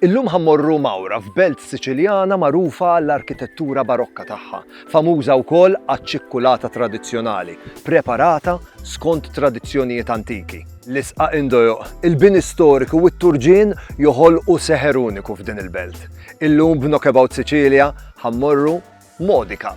Illum ħa mmorru Mawra f'belt Siċiljana magħrufa għall-arkitettura Barokka tagħha, famuża wkoll għaċ-ċikkulata tradizzjonali, preparata skont tradizzjonijiet antiki. L-isqaq indojoq, il-bini storiku u t-turġien joħolqu seħer uniku f'din il-belt. Illum b'Knockabout Sicilia ħa mmorru Modica.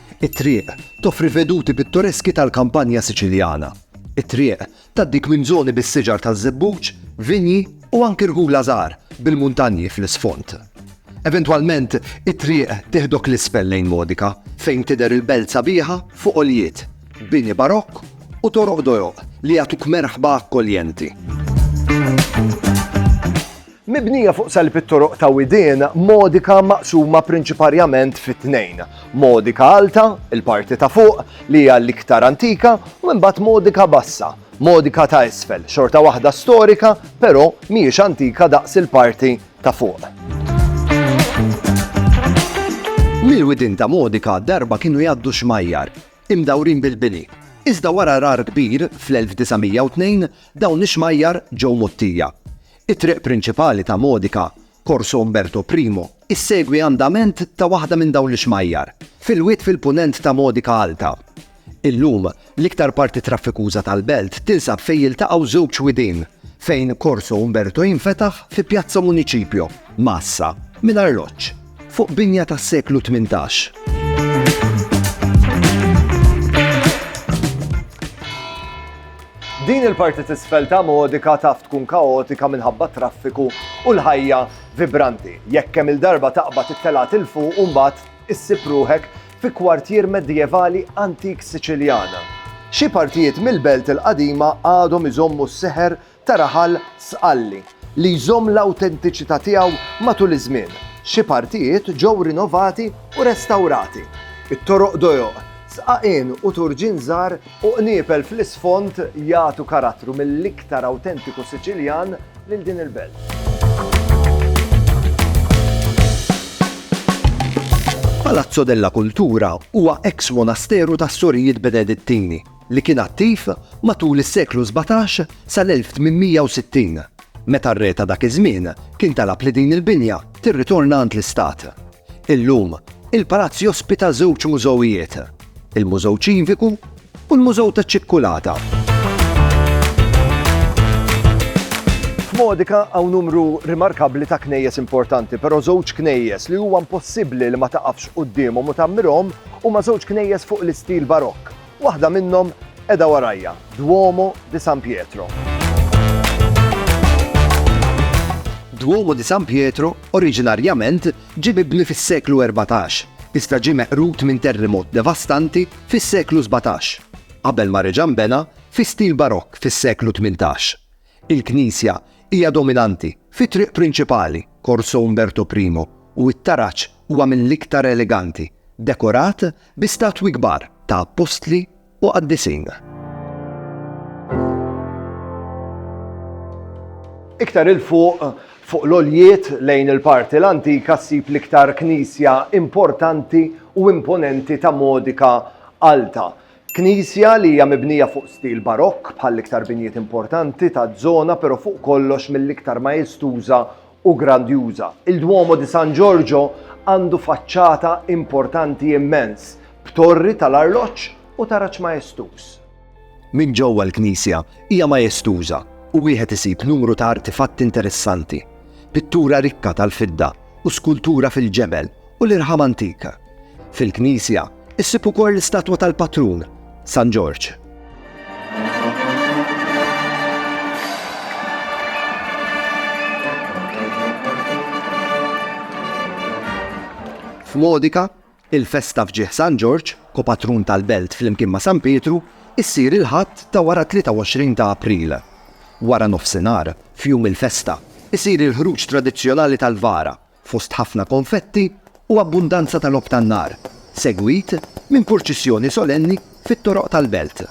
It-triq toffri veduti pittoreski tal-kampanja Siċiljana. It-triq tgħaddik minn żoni bis-siġar taż-żebbuġ, vinji u anki rħula żgħar bil-muntanji fl-isfond. Eventwalment, it-triq tieħdok 'l isfel lejn Modica, fejn tidher il-belt sabiħa fuq għoljiet, bini barokk u toroq dojoq li jagħtuk merħba akkoljenti. Mibnija fuq salib it-toroq ta' Widien, Modica maqsuma prinċiparjament fi tnejn, Modica Alta, il-parti ta' fuq, li hija l-iktar antika, u imbagħad Modica Bassa, Modica ta' isfel, xorta waħda storika, però mhijiex antika daqs il-parti ta' fuq. Mill-widien ta' Modica darba kienu jgħaddu xmajjar, imdawrin bil-bini, iżda wara għrar kbir fl-1902 dawn ix-xmajjar ġew mgħottija. It-triq prinċipali ta' Modica, Corso Umberto I, issegwi andament ta' waħda minn dawn l-ixmajjar, fil-wied fil-punent ta' Modica Alta. Illum, l-iktar parti traffikuża tal-belt tinsab fejn jiltaqgħu żewġ widien, fejn Corso Umberto jinfetaħ fi Piazza Municipio, Massa, minn arloġġ. Fuq binja tas-seklu tmintax. Din il-parti t'isfel ta' Modica taf tkun kaotika minħabba t-traffiku u l-ħajja vibranti. Jekk kemm-il darba taqbad it-telgħat 'il fuq u mbagħad issib ruħek fi kwartier medjevali antik Siċiljan. Xi partijiet mill-belt il-qadima għadhom iżommu s-seħer ta' raħal Sqalli li jżomm l-awtentiċità tiegħu matul iż-żmien. Xi partijiet ġew rinovati u restawrati. It-toroq dojoq, sqaqien u turġien żgħar u qniepel fl-isfond jagħtu karattru mill-iktar awtentiku Siċiljan lil din il-belt. Palazzo della Cultura huwa eks-monasteru tas-Sorijiet Benedittini li kien attiv matul is-seklu sbatax sal-1860, meta r-re ta' dak iż-żmien kien talab li din il-binja tirritorna għand l-istat. Illum, il-palazz jospita żewġ mużewijiet, il-Mużew Ċiviku u l-Mużew taċ-Ċikkulata. F'Modica hawn numru rimarkabbli ta' knejjes importanti, però żewġ knejjes li huwa impossibbli li ma taqafx quddiemhom u tgħammirhom huma żewġ knejjes fuq l-istil Barokk. Waħda minnhom qiegħda warajja, Duomo di San Pietro. Duomo di San Pietro oriġinarjament ġie mibni fis-seklu erbatax, iżda ġie meqrud minn terrimot devastanti fis-seklu sbatax, qabel ma reġa' nbena fi stil Barokk fis-seklu tmintax. Il-knisja hija dominanti fit-triq prinċipali, Corso Umberto I, u t-taraġ huwa mill-iktar eleganti, dekorat bi statwi kbar ta' appostli u qaddisin. Iktar 'il fuq, fuq l-għoljiet lejn il-parti l-antika ssib l-iktar knisja importanti u imponenti ta' Modica Alta. Knisja li hija mibnija fuq stil Barokk bħall-iktar binjiet importanti taż-żona pero fuq kollox mill-iktar majestuża u grandjuża. Il-Duomo di San Giorgio għandu faċċata importanti immens, b'torri tal-arloġġ u taraġ majestuż. Minn ġewwa l-knisja hija majestuża u wieħed isib numru ta' artifatti interessanti, pittura rikka tal-fidda u skultura fil-ġebel u l-irħam antik. Fil-knisja issib ukoll l-istatwa tal-patrun, San Ġorġ. F'Modika, il-festa f'ġieħ San Ġorġ, kopatrun tal-belt fl-imkien ma' San Pietru, issir il-ħadd ta' wara 23 ta' April. Wara nofsinhar, f'jum il-festa, isir il-ħruġ tradizzjonali tal-vara fost ħafna konfetti u abbundanza ta' logħob tan-nar, segwit minn purċissjoni solenni fit-toroq tal-belt.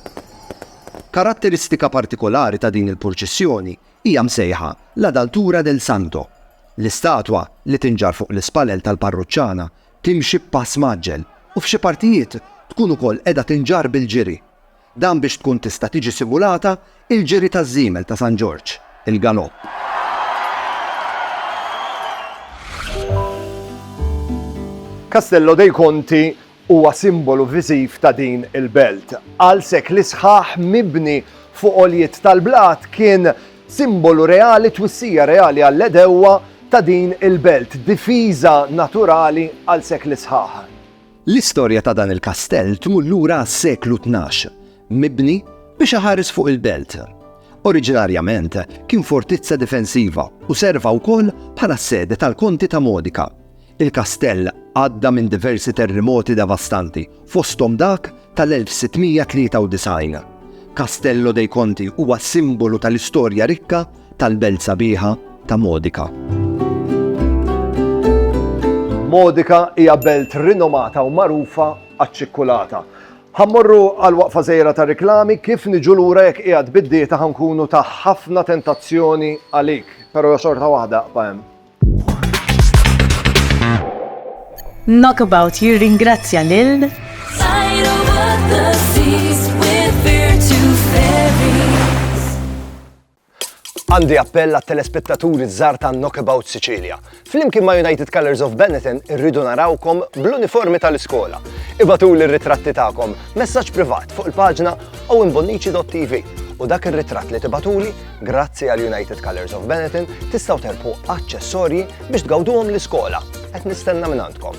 Karatteristika partikolari ta' din il-purċissjoni hija msejħa La Daltura del Santo. L-istatwa, li tinġarr fuq l-ispalel tal-parruċċana, timxi b'pass mgħaġġel u f'xi partijiet tkun ukoll qiegħda tinġarr bil-ġiri. Dan biex tkun tista' tiġi simulata l-ġiri taż-żiemel ta' San Ġorġ, il-galopp. Castello dei Conti huwa simbolu viżiv ta' din il-belt. Għal sekli sħaħ mibni fuq għoljiet tal-blat kien simbolu reali, twissija reali għall-għedewwa ta' din il-belt, difiża naturali għal sekli sħaħ. L-istorja ta' dan il-kastell tmur lura għas-seklu tnax, mibni biex iħares fuq il-belt. Oriġinarjament kien fortizza difensiva u serva wkoll bħala s-sede tal-Konti ta' Modica. Il-kastell għadda minn diversi terrimoti devastanti, fosthom dak tal-1693. Castello dei Conti huwa simbolu tal-istorja rikka tal-belt sabiħa ta' Modica. Modica hija belt rinomata u magħrufa għaċ-ċikkulata. Ħa mmorru għal waqfa żgħira ta' riklami kif niġu lura jekk qiegħed bid-dieta ħa nkunu ta' ħafna tentazzjoni għalik, però xorta waħda aqba' hemm. Knockabout jirringrazzja lil Għandi appell għat telespettaturi żgħar ta' Knockabout Sicilia. Flimkien ma' United Colors of Benetton irridu narawkom bl-uniformi tal-iskola. Ibatu l ritratti tagħkom messaġġ privat fuq il-paġna owenbonnici.tv u dak ir-ritratt li tibatuli, grazzi għal United Colors of Benetton, tistgħu terpu aċċessorji biex tgawduhom l-iskola. Qed nistenna minn għandkom.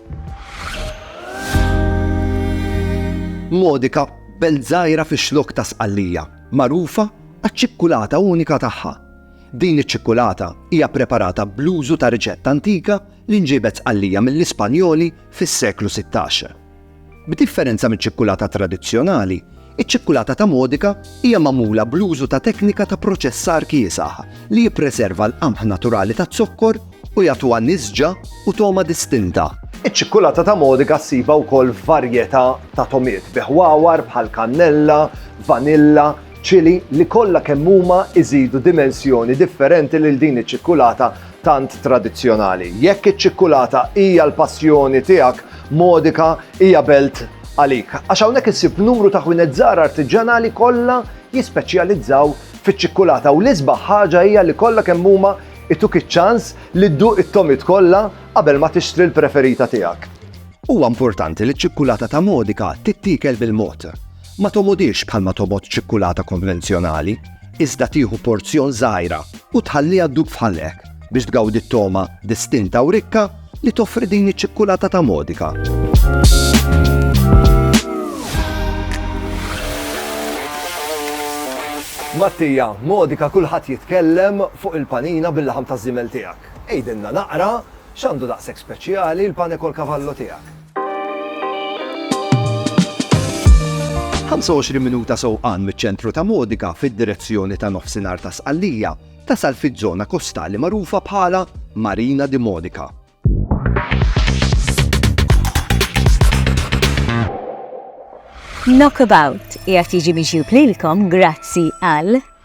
Modica, belt żgħira fix-Xlokk ta' Sqallija, magħrufa għaċ-ċikkulata unika tagħha. Din iċ-ċikkulata hija preparata bl-użu ta' riċetta antika li nġiebet Sqallija mill-Ispanjoli fis-seklu sittax. B'differenza miċ-ċikkulata tradizzjonali, Iċ-ċikkulata ta' Modica hija magħmula bl-użu ta' teknika ta' proċessar kiesaħ li jippreserva l-qamħ naturali taz-zokkor u jagħtuha nisġa u togħma distinta. Iċ-ċikkulata ta' Modica ssibha wkoll f'varjetà ta' togħmiet bi ħwawar bħal kannella, vanilla, ċili li kollha kemm huma jżidu dimensjoni differenti lil din iċ-ċikkulata tant tradizzjonali. Jekk iċ-ċikkulata hija l-passjoni tiegħek, Modica hija belt għalik. Għax hawnhekk issib numru ta' ħwienet żgħar artiġġanali kollha jispeċjalizzaw fiċ-ċikkulata u l-isbaħ ħaġa hija li kollha kemm huma ituk iċ-ċans li dduq it-tomit kollha qabel ma tixtri l-preferita tiegħek. Huwa importanti li ċ-ċikkulata ta' Modica tittiekel bil-mod. Ma tomodix bħalma tomod ċikkulata konvenzjonali, iżda tieħu porzjon żgħira u tħalliha ddub f'ħalqek biex tgawdi t-togħma distinta u rikka li toffri din iċ-ċikkulata ta' Modica. Mattija, Modica kulħadd jitkellem fuq il-panina bil-laħam taż-żiemel tiegħek. Għidilna naqra x'għandu daqshekk speċjali l-pane kol kavallo tiegħek. 25 minuta sewqan miċ-ċentru ta' Modica fid-direzzjoni ta' nofsinhar ta' Sqallija tasal fiż-żona kostali magħrufa bħala Marina di Modica. Knockabout qiegħed jiġi mixjub lilkom grazzi għal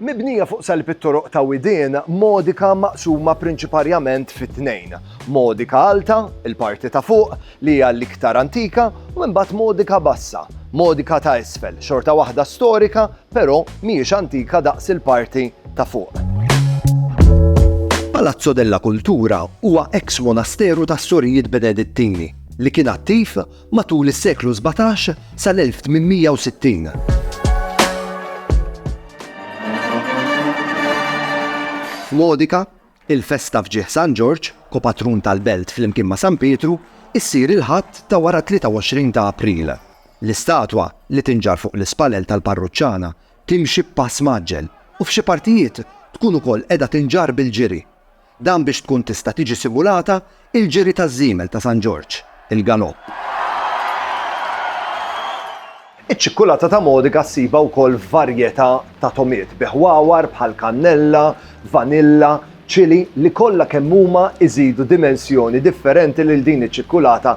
Mibnija fuq salib it-toroq ta' Widien, Modica maqsuma prinċiparjament fi tnejn, Modica Alta, il-parti ta' fuq, li hija l-iktar antika, u imbagħad Modica Bassa, Modica ta' isfel, xorta waħda storika, però mhijiex antika daqs il-parti ta' fuq. Palazzo della Cultura huwa eks-monasteru tas-Sorijiet Benedittini li kien attiv matul is-seklu sbatax sal-1860. F'Modica, il-festa f'ġieħ San Ġorġ, ko-patrun tal-belt flimkien ma' San Pietru, issir il-Ħadd ta' wara 23 ta' April. L-istatwa, li tinġarr fuq l-ispallel tal-parruċċana, timxi b'pass mgħaġġel u f'xi partijiet tkun ukoll qiegħda tinġarr bil-ġiri. Dan biex tkun tista' tiġi simulata l-ġiri taż-żiemel ta' San Ġorġ, il-galopp. Iċ-ċikkulata ta' Modica ssibha wkoll f'varjetà ta' tomiet bi ħwawar bħal kannella, vanilla, ċili li kollha kemm huma jżidu dimensjoni differenti lil din iċ-ċikkulata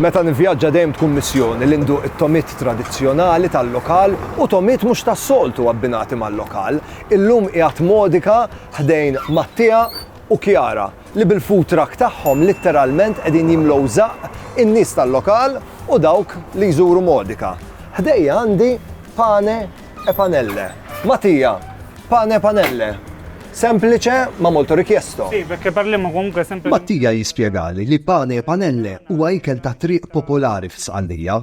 Meta nivvjaġġa dejjem tkun missjoni li nduq it-tomit tradizzjonali tal-lokal u tomit mhux tas-soltu abbinati mal-lokal. Illum qiegħed modika ħdejn Mattia u Kjara li bil-food truck tagħhom litteralment qegħdin jimlew żaqq in-nies tal-lokal u dawk li jżuru Modica. Ħdejja għandi pane e panelle. Mattia, Pane e panelle. Semplice ma molto richiesto. Mattia jispjegali li pane e panelle huwa ikel tat-triq popolari fi Sqallija.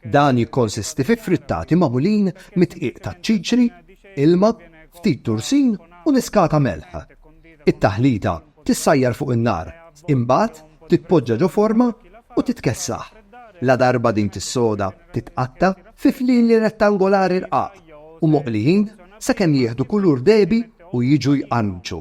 Dan jikkonsisti fi frittati magħmulin mid-dqiq taċ-ċiċri, ilma, ftit tursin u niskata melħ. It-taħlita tissajjar fuq in-nar, imbagħad titpoġġa ġo forma u titkessaħ. Ladarba din tissoda, titqatta' fi flili rettangolari rqaq u moqlijin sakemm jieħdu kulur dehbi u jiġu jqarmċu.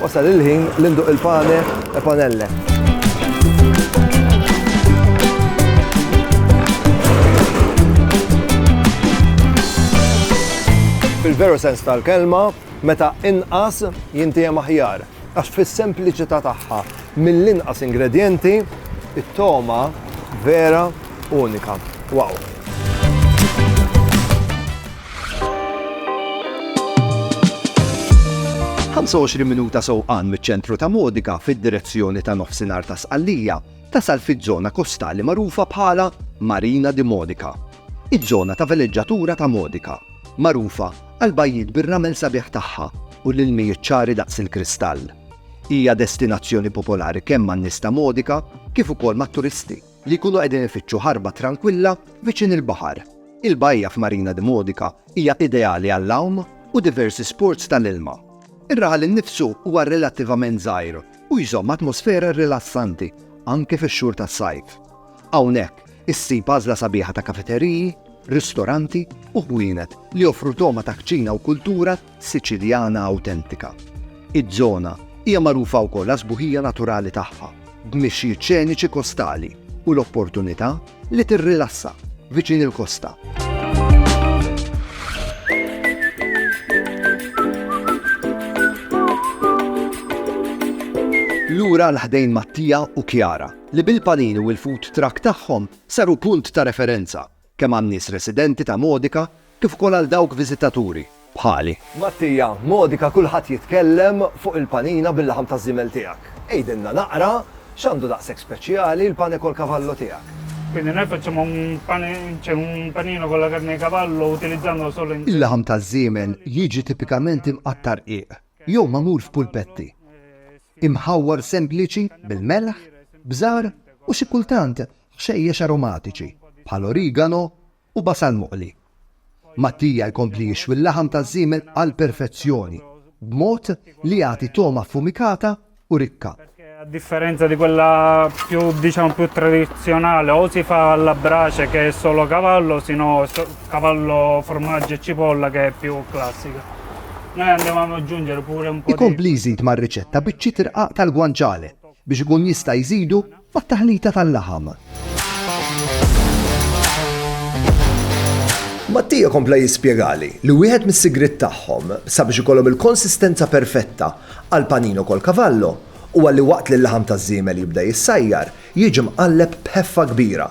Wasal il-ħin li nduq il-pane e panelle. Fil-veru sens tal-kelma, meta inqas jintiegħem aħjar għax fis-sempliċità tagħha Mill-inqas ingredjenti, it-togħma vera unika. Wow! Ħamsa u għoxrin minuta sewqan miċ-ċentru ta' Modica fid-direzzjoni ta' nofsinhar ta' Sqallija tasal fiż-żona kostali magħrufa bħala Marina di Modica. Iż-żona ta' veleġġatura ta' Modica, magħrufa għall-bajjiet bir-ramel sabiħ tagħha u l-ilmijiet ċari daqs il-kristall. Hija destinazzjoni popolari kemm man-nies ta' Modica kif ukoll mat-turisti li jkunu qegħdin ifittxu ħarba trankwilla viċin il-baħar. Il-bajja f'Marina di Modica hija ideali għall-għawm u diversi sports tal-ilma. Ir-raħal innifsu huwa relattivament żgħir u jżomm atmosfera rilassanti anke fix-xhur tas-sajf. Hawnhekk issib għażla sabiħa ta' kafeteriji, ristoranti u ħwienet li joffru togħma ta' kċina u kultura Siċiljana awtentika. Iż-żona hija magħrufa wkoll għas-sbuħija naturali tagħha, b'mixjiet xeniċi kostali u l-opportunità li tirrilassa viċin il-kosta. Lura 'l ħdejn Mattia u Chiara, li bil-panini u l-food truck tagħhom saru punt ta' referenza kemm għan-nies residenti ta' Modica kif ukoll għal dawk viżitaturi, bħali. Mattia, Modica kulħadd jitkellem fuq il-panina bil-laħam taż-żiemel tiegħek. Għidilna naqra x'għandu daqshekk speċjali l-pane col cavallo tiegħek? Quindi noi facciamo un pane, cioè un panino con la carne di cavallo utilizzando solo in. Il-laħam taż-żiemel jiġi tipikament imqatta' rqiq jew magħmul f'pulpetti. Imħawwar sempliċi bil-melħ, bżar u xi kultant Ħxejjex aromatiċi bħal origano u basal moqli. Mattia jkompli jixwi l-laħam taż-żiemel għall-perfezzjoni b'mod li jagħti togħma affumikata u rikka. Perché a differenza di quella più diciamo più tradizionale o si fa alla brace che è solo cavallo o si no cavallo formaggio e cipolla che è più classica. Noi andiamo ad aggiungere pure un po' di Ikompli jżid mar-riċetta biċċiet irqaq tal-guanciale biex ikun jista' jżidu Mat-taħlita tal-laħam. Mattia kompla jispjegali li wieħed mis-sigriet tagħhom sabiex ikollhom il-konsistenza perfetta għal panino col cavallo huwa li waqt li l-laħam taż-żiemel jibda jissajjar, jiġi mqalleb b'ħeffa kbira.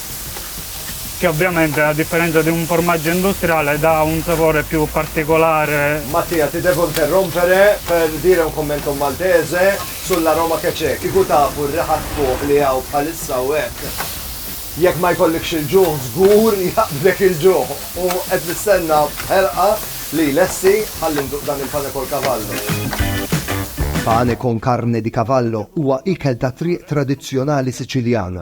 che ovviamente a differenza di un formaggio industriale dà un sapore più particolare. Mattia, ti devo interrompere per dire un commento maltese sull'aroma che c'è. Kieku tafu r-riħa tfuħ li hawn bħalissa hawn hekk. Jekk ma jkollikx il-ġuħ żgur jaqbdlek il-ġuħ u qed nistenna b'ħerqa li jlessi ħalli nduq dan il-pane col cavallo. Pane con carne di cavallo huwa ikel tat-triq tradizzjonali Siċiljan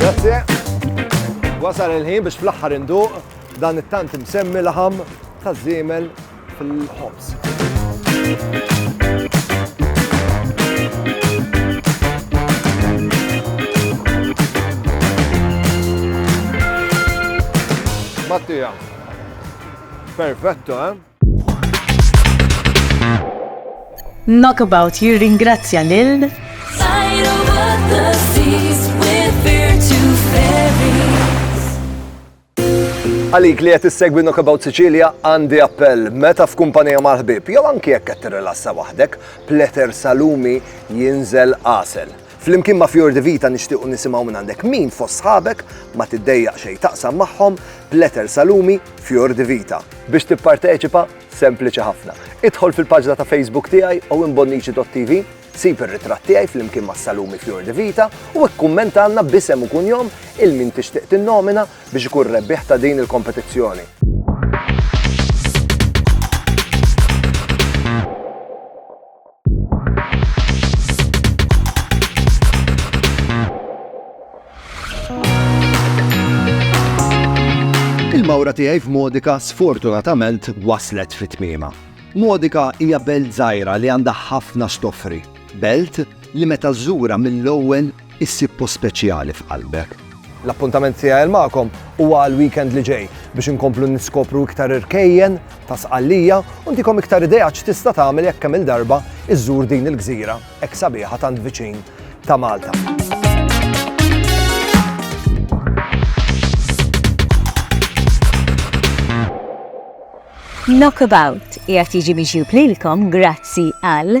Grazie. Wasal il-ħin biex fl-aħħar induq dan it-tant imsemmi laħam ta' żiemel fil-ħobs. Mattia, Perfetto, eh? Knockabout jirringrazzja lil Għalik li qed issegwi Knockabout Sicilia għandi appell meta f'kumpanija mal-ħbib jew anki jekk qed tirrilassa waħdek, pleter salumi jinżel qasel. Flimkien ma' Fior di Vita nixtiequ nisimgħu minn għandek min fost sħabek ma tiddejjaq xejn taqsam magħhom b'letter Salumi Fior di Vita. Biex tipparteċipa, sempliċi ħafna. Idħol fil-paġna ta' Facebook tiegħi owenbonnici.tv, sib ir-ritratt tiegħi flimkien ma' Salumi Fior di Vita u ikkummentalna b'isem u kunjom il min tixtieq tinnomina biex ikun rebbieħ ta' din il-kompetizzjoni. Il-mawra tiegħi f'Modika sfortunatament waslet fit-tmiema. Modika hija belt żgħira li għandha ħafna x'toffri. Belt li meta żżura mill-ewwel issib post speċjali f'qalbek. L-appuntament tiegħi magħkom huwa għall-weekend li ġej biex inkomplu niskopru iktar irkejjen ta' sqallija u ntikom iktar idea x'tista' tagħmel jekk kemm il-darba iżżur din il-gżira hekk sabiħa tant viċin ta' Malta. Knockabout qiegħed jiġi miġjub lilkom grazzi għal